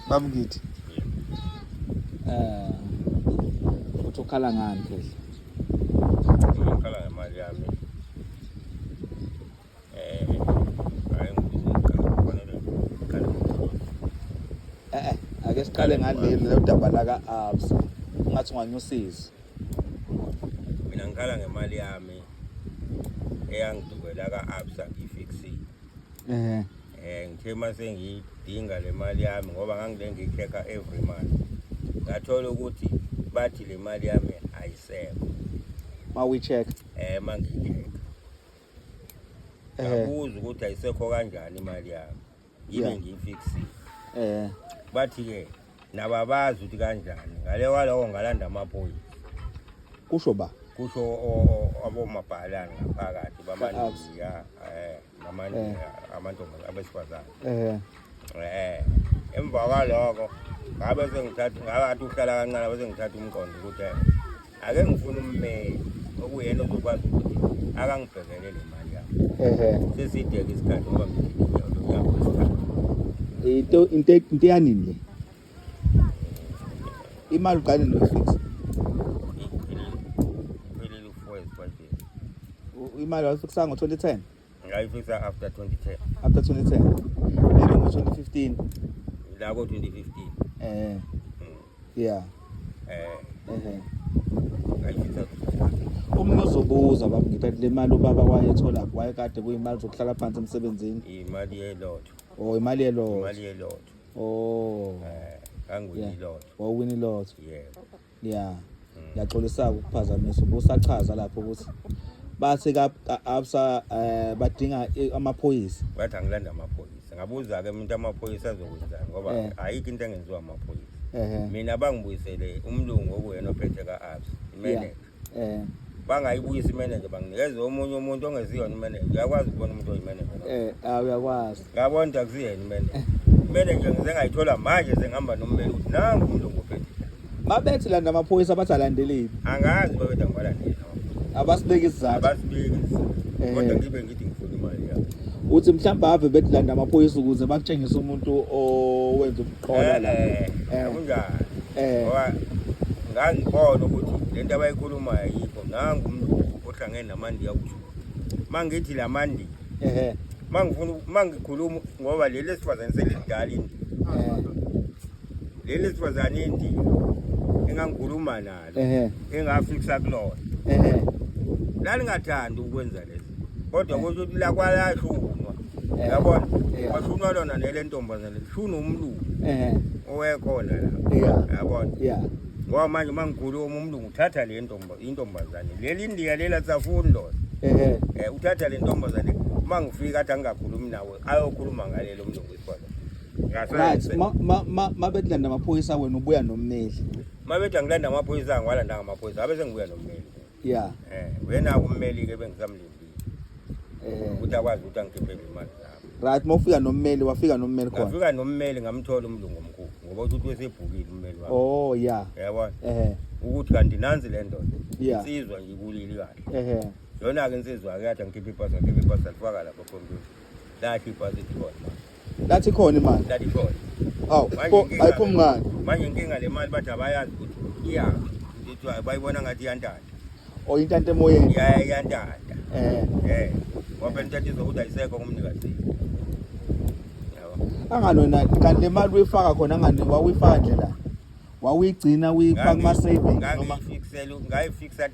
Babu ngithi. Eh. Uthi ukhala ngani phela? Ukhala ngemali yami. Eh. Hayi ngikhala kufanele ngikhala. Eh eh, ake siqale ngaleli lo daba la ka Absa. Ungathi unganyusiza. Mina ngikhala ngemali yami. Eyangidubela ka Absa ifixi. Eh. Eh ngithe uma sengiyidinga le mali yami ngoba ngangile ngicheck-a every month. Ngathola ukuthi bathi le mali yami ayisekho. Uma uyi-check. Eh uma ngiyi-check. Eh. Ngabuza ukuthi ayisekho kanjani imali yami. Yibe yeah. ngiyifixile. Eh. Bathi-ke nababazi ukuthi kanjani ngale walowo ngalanda amaphoyisa kusho ba kusho abomabhalane ngaphakathi bamaningi ya um amanye Eh. amantombazane abesifazane eh eh emva kwaloko ngabe sengithatha ngakathi uhlala kancane bese ngithatha umqondo ukuthi eh, ake ngifune ummeli okuyena ozokwazi ukuthi akangibhekele le mali yami ehe sesideke isikhathi ngoba ngidikile uyakusikhathi into into into yanini le imali uqale nofixa imali wayifixa ngo-2010 ngayifixa after 2010 after 2010 maybe ngo-2015 la ko-2015 eh mm. yeah eh ehe ngayifixa omunye ozobuza baba ngithi le mali ubaba wayethola wayekade kuyimali zokuhlala phansi emsebenzini imali yelotho oh imali yelotho imali yelotho oh eh kanguwini lotho wawini lotho yebo yeah ngiyaxolisa ukuphazamisa ubusachaza lapho ukuthi bathi ka absa eh, badinga amaphoyisa bathi angilanda amaphoyisa ngabuza ke umuntu amaphoyisa azokwenzani ngoba eh. ayikho into engenziwa amaphoyisa mina bangibuyisele umlungu okuwena ophethe ka absa imene eh bangayibuyisa imenenja banginikeze omunye umuntu ongeziyona imenenja uyakwazi ukubona umuntu oyimenenja eh ah, uyakwazi ngabona ukuthi akusiyena imenenja imenenja ngize ngayithola manje sengihamba nommeli ukuthi nangu umuntu ongophethe babethi landa amaphoyisa abathi alandeleni angazi babetha ngibalandeli abasibeki isizathu abasibeki isizathu eh. kodwa ngibe ngithi ngifuna imali yabo uthi mhlawumbe ave bethi landa amaphoyisa ukuze bakutshengise umuntu owenza khona la Eh, eh, kunjani eh ngoba ngangibona ukuthi le nto abayikhulumayo ayikho nangu umuntu ohlangene namandiya kusho uma ngithi la mandi ehe uma ngifuna uma ngikhuluma ngoba leli esifazane selidala indi eh leli esifazane indi engangikhuluma naye ehe engafikisa kulona ehe lalingathandi ukwenza lezi kodwa kusho ukuthi lakwalashunwa Eh. yabona Yeah. kwashunwa lona nele ntombazane lishuna umlungu ehe owekhona la yeah yabona yeah ngoba manje uma ngikhuluma umlungu uthatha le ntomba intombazane leli indiya lela safuni lona ehe um uthatha le ntombazane uma ngifika athi angingakhulumi nawe ayokhuluma ngalelo mlungu ikhona right ma ma ma mabedlanda amaphoyisa wena ubuya nommeli Mabethi angilanda amaphoyisa angiwalanda ngamaphoyisa abe sengibuya nommeli. Yeah. Eh uyena ummeli ke bengisamlindile. Eh ukuthi akwazi ukuthi angikhiphe imali zami. Right mawufika nommeli wafika nommeli khona. Wafika nommeli ngamthola umlungu omkhulu ngoba uthi wesebhukile ummeli wakhe. Oh yeah. Yabona? Eh. Ukuthi kanti nanzi le ndoda. Yeah. Insizwa nje kulili kahle. Eh. Yona ke insizwa ke yathi angikhiphe ipasa ngikhiphe ipasa lifaka lapha computer. Lathi ipasa ikhona. Lathi khona imali. Lathi khona. Hawu, ayiphumi ngani? Manje inkinga le mali bathi abayazi ukuthi iya. Ngithi bayibona ngathi iyantanda. O oh, intanta emoyeni. Ya iyantanda. Eh. Eh. Ngoba intanta izokuthi ayisekho kumnikazi. Angani wena kanti le mali uyifaka khona angani wawuyifaka nje la. Wawuyigcina uyifaka kuma savings noma ngayifixela ngayifixela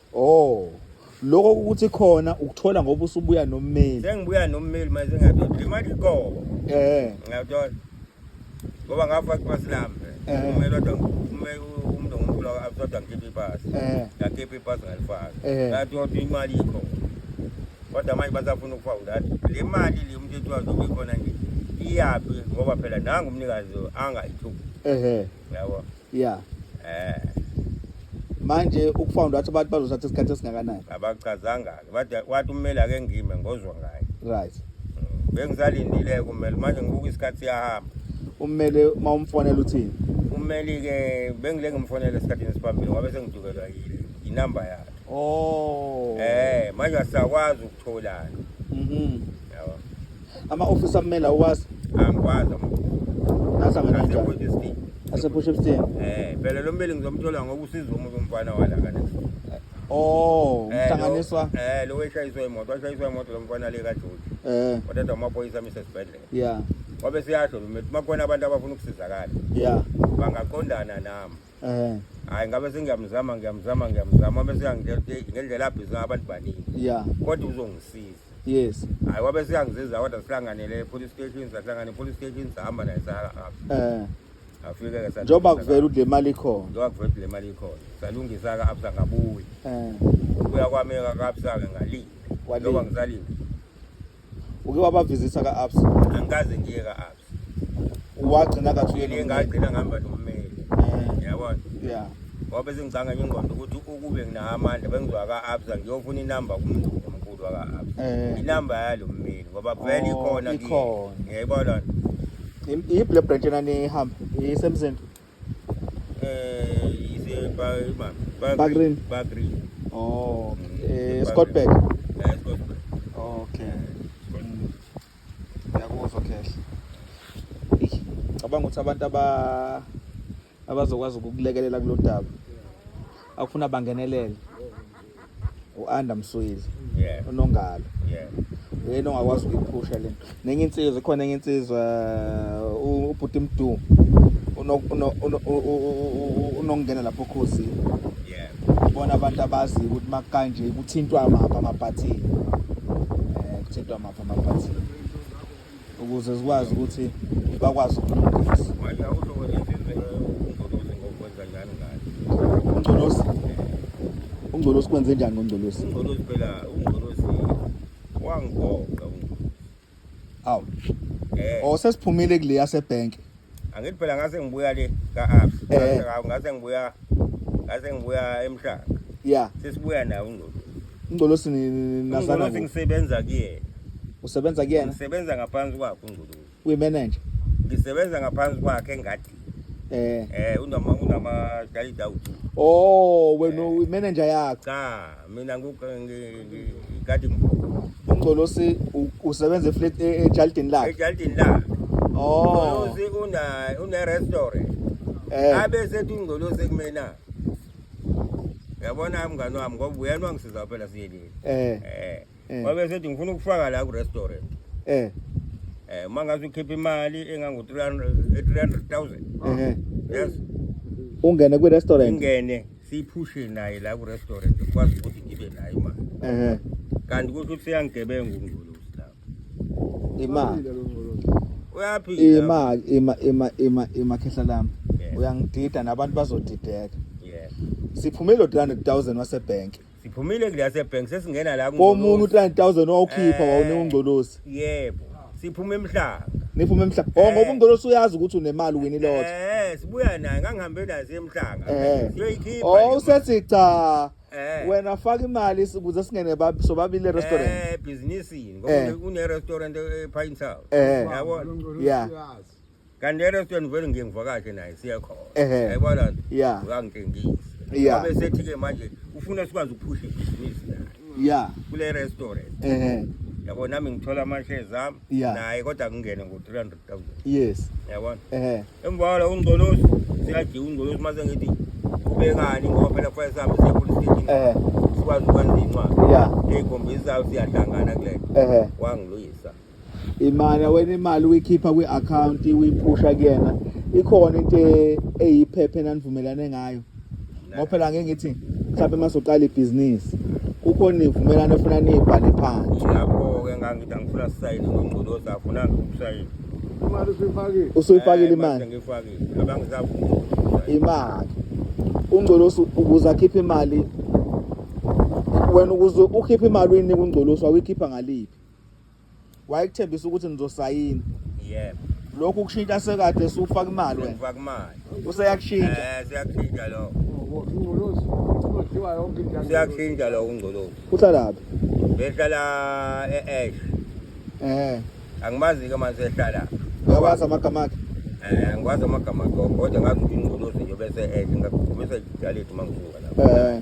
Oh. Lokho ukuthi khona ukuthola ngoba usubuya nommeli. Sengibuya nommeli manje ngiyadoda imali go. Eh. Ngiyadodwa. Ngoba ngafa kwasilamba. Eh. Ummeli odwa ummeli umuntu ngomkhulu abusodwa ngikhipha ipasi. Eh. Ngakhipha ipasi ngalifaka. Eh. Ngadodwa imali ikho. Kodwa manje basafuna ukufa udala. Le mali le umuntu ethiwa zobe khona nje. Iyaphi ngoba phela nangu umnikazi angayithuki. Ehhe. Yabo. yeah eh manje ukufound wathi abantu bazothatha isikhathi esingakanani abachazanga-ke wathi wathi ummeli ake ngime ngozwa ngaye right Mm. bengisalindile-ke ummeli manje ngibuka isikhathi siyahamba ummele uma umfonela uthini ummeli-ke bengile ngimfonele esikhathini esiphambili ngoba sengidukelwa yile inamba yakhe oh um manje asisakwazi ukutholana mhm yabo Ama office amela uwazi. Angikwazi ama office. Nasa ngena njani? Ase push up stand. Eh, phela lo mbeli ngizomthola ngoba usiza umuntu umfana wala kana. Oh, eh, umhlanganiswa. Eh, lo weshayiswa imoto, washayiswa imoto lo mfana le kaJoji. Eh. Kodwa amaphoyisa amise sibhedlela. Yeah. Wabe siyasho lo mfana, makhona abantu abafuna ukusizakala. Yeah. Bangaqondana nami. eh hayi ngabe sengiyamzama ngiyamzama ngiyamzama abe seyangitshela ukuthi ngendlela abhizi ngayo abantu baningi ya kodwa uzongisiza yes hayi wabe seyangisiza kodwa sihlanganele e-police station sahlangana e-police station sahamba naye sahamba eh afike-ke sa- njengoba kuvela ukuthi le mali ikhona njengoba kuvela ukuthi le mali ikhona salungisa-ke absa ngabuya eh ukuya kwami-ke kabsa-ke ngalile Walile. njengoba ngisalile uke wabavizitha ka-abs angikaze ngiye ka-abs wagcina kathi uye nomyeni. ngagcina ngihamba nommeli Eh, yabona yeah. ngoba sengicanga nje ingqondo ukuthi ukube nginawo amandla bengizoya ka-abs ngiyofuna inamba kumuntu omkhulu waka-abs Eh. inamba yalo mmeli ngoba vele Oh, ikhona kiyo. ikhona. ngiyayibona Im- iyiphi le branch enanihamba isemzini Eh, is a bag, man. Bag, Bag green. Bag green. Oh, eh, Scott Beck. Eh, Scott Beck. Okay. Ngiyakuzwa khehla. Cabanga ukuthi abantu aba abazokwazi ukukulekelela kulodaba. Akufuna bangenelele. u-anda mswili yeah. unongalo yeah. uyena ongakwazi ukuyiphusha le nto nenye insizwa ikhona enye insizwa uh, ubhuti mdu unokungena lapho khosi bona abantu abazi ukuthi makanje kuthintwa mapha amabhathini um kuthintwa mapha amabhathini ukuze zikwazi ukuthi bakwazi ukulungisa ungcolosi ungcolosi kwenze njani ngongcolosi ungcolosi phela ungcolosi wangigoqa awu eh. osesiphumile oh, kule yasebhenki angithi phela ngase ngibuya le ka-abs Eh. ngase ngibuya ngase ngibuya emhlanga ya sesibuya naye ungcolosi ungcolosi ni- ni- ni- nazana ungcolosi kuphi? ngisebenza kuyena usebenza kuyena ngisebenza ngaphansi kwakhe ungcolosi uyimenenja ngisebenza ngaphansi kwakhe engadini eh um unama unama-dalida awuthi o wena uyimenenja yakho cha Mina ngikati uNgcolosi usebenza eflat e- ejalidini lakhe. ejalidini lakhe Oh. ungcolosi una- une-restaurant Eh. abe sethi ungcolosi kumina yabona mngani wami ngoba uyena wangisiza phela siyelile Eh. um Eh. wabe esethi ngifuna ukufaka la ku-restaurant eh um uma ngaze ukhiphe imali engangu-three hundred thousand ehe yes ungene kwi restaurant ingene siyiphushe naye la ku-restaurant kukwazi ukuthi ngibe nayo imali ehe kanti kusho ukuthi seyangigebenga ungculusi lapho imali uyaphila imali ima ima ima ima khehla lami Yeah. uyangidida nabantu bazodideka yes siphume lo 300000 wasebhenki siphumile kule yasebhenki sesingena la komunye u-3000 wawukhipha Eh. wawunewungcolosi yebo siphume emhlanga niphume emhlanga o ngoba ungcolosi uyazi ukuthi unemali wini lotho Eh, sibuya naye ngangihambe naye siye emhlanga Eh. siyoyikhipha o le usethi cha Eh. wena faka imali si- ukuze singene bab- sobabili e-restaurant Eh, ebhizinisini Eh. ngoba une-restaurant ephayini sawo Eh. yabona ya kanti erestweni ngivele ngiye ngivakashe naye siye khona Ehhe. yayibona loo nto Yeah. uyangitshengisa Yeah. abe sethi-ke manje ufuna sikwazi ukuphusha ibhizinisi naye ya kule restaurant ehe yabo nami ngithola amashares ami Yeah. naye kodwa ngingene ngo-three hundred thousand yes yabona ehe emva kwalo ungcolosi siyajiya ungcolosi mase ngithi ubekani ngoba phela kufanele sihambe siye police station ehe sikwazi ukwenza incwadi ya eyikhombisa siyahlangana kule ehe wangiluyisa imali wena imali uyikhipha kwi-account uyiphusha kuyena ikhona into e- eyiphephe enanivumelane ngayo ngoba phela ngeke ngithi mhlawumbe uma soqala ibhizinisi kukhona nivumelane ofuna niyibhale phansi ngakho-ke ngangithi angifuna sisayine ngongcoloza afuna ngikusayine imali usuyifakile usuyifakile imali ngiyifakile abangisavuma imali ungcolosi ukuze akhiphe imali wena ukuze ukhiphe imali uyinika ungcolosi wawikhipha ngaliphi wayekuthembisa ukuthi nizosayina yebo lokhu kushintsha sekade sufaka imali wena ngifaka imali useyakushintsha eh siyakushintsha lo ingcolozi udliwa yonke into siyakushintsha lo ungcolozi uhlalaphi behlala e-ash eh angimazi ke manje ehlala ngakwazi amagama akhe eh ngikwazi amagama akhe kodwa ngazi ukuthi ingcolozi nje bese-ash ngakuphumisa idaleti uma ngisuka lapho eh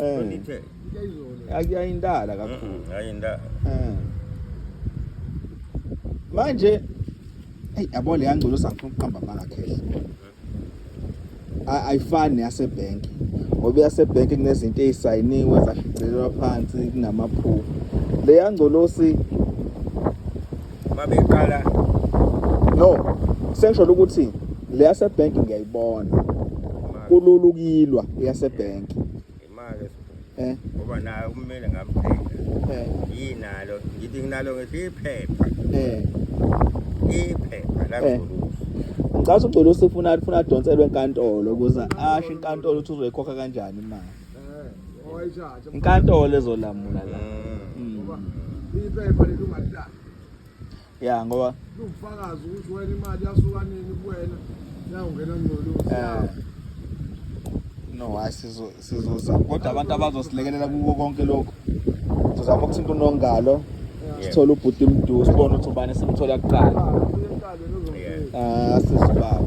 Eh. Undithe. Akuyayindala kakhulu. Mm, Ayinda. Eh. Manje hey yabo le yangcono sangifuna ukuqamba amanga cash. A- Ayifani yase bank. Ngoba yase bank kunezinto ezisayiniwe zashicilelwa phansi kunamaphupho. Le yangcolosi babeqala no sengisho ukuthi le yase bank ngiyayibona kulula ukuyilwa yase bank imali eh ngoba naye ummeli ngamphela eh yinalo ngithi nginalo ngesiphepha eh iphepha la eh. ngicela ugcwele usifuna ufuna adonselwe enkantolo ukuze asho inkantolo ukuthi uzoyikhokha kanjani imali inkantolo ezolamula la ya ngoba ubufakazi ukuthi wena imali yasuka nini kuwena yawungena ngcolo eh. no hayi sizo sizoza kodwa abantu abazosilekelela kuko konke lokho sizama ukuthinta unongalo sithole ubhuti mdu sibone ukuthi ubani simthola kuqala Ah, sisibaba.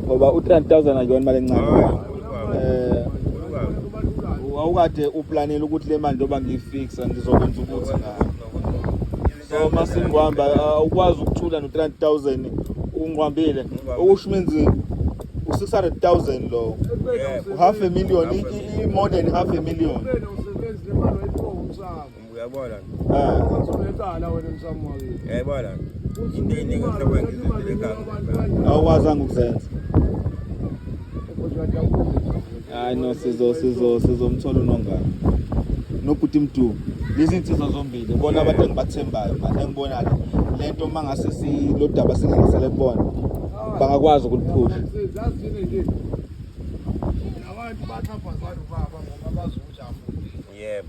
Ngoba u-3000 akuyona imali encane. Eh wawukade uplanela ukuthi le mali ndoba ngiyifixa ngizokwenza ukuthi ngayo. So masingwamba ah, ukwazi ukuthula no-3000 ungqwambile. Okusho menzi u-600000 lo. U-half a million, i-modern half a million. Uyabona? Eh. Uzolethala wena msamo wakini. Uyabona? Into eningi ohlobweni ngizozile ekhaya. Awukwazanga ukuzenza. Hayi no sizo sizo sizomthola unongana. Nobhuti Mdu. Lezi insizwa zombili bona abantu engibathembayo manje engibona ke lento mangase silodaba singengisele kubona. Bangakwazi ukuliphusha. Sizazini nje. Nabantu bathapha abantu baba ngoba bazokujafu. Yebo.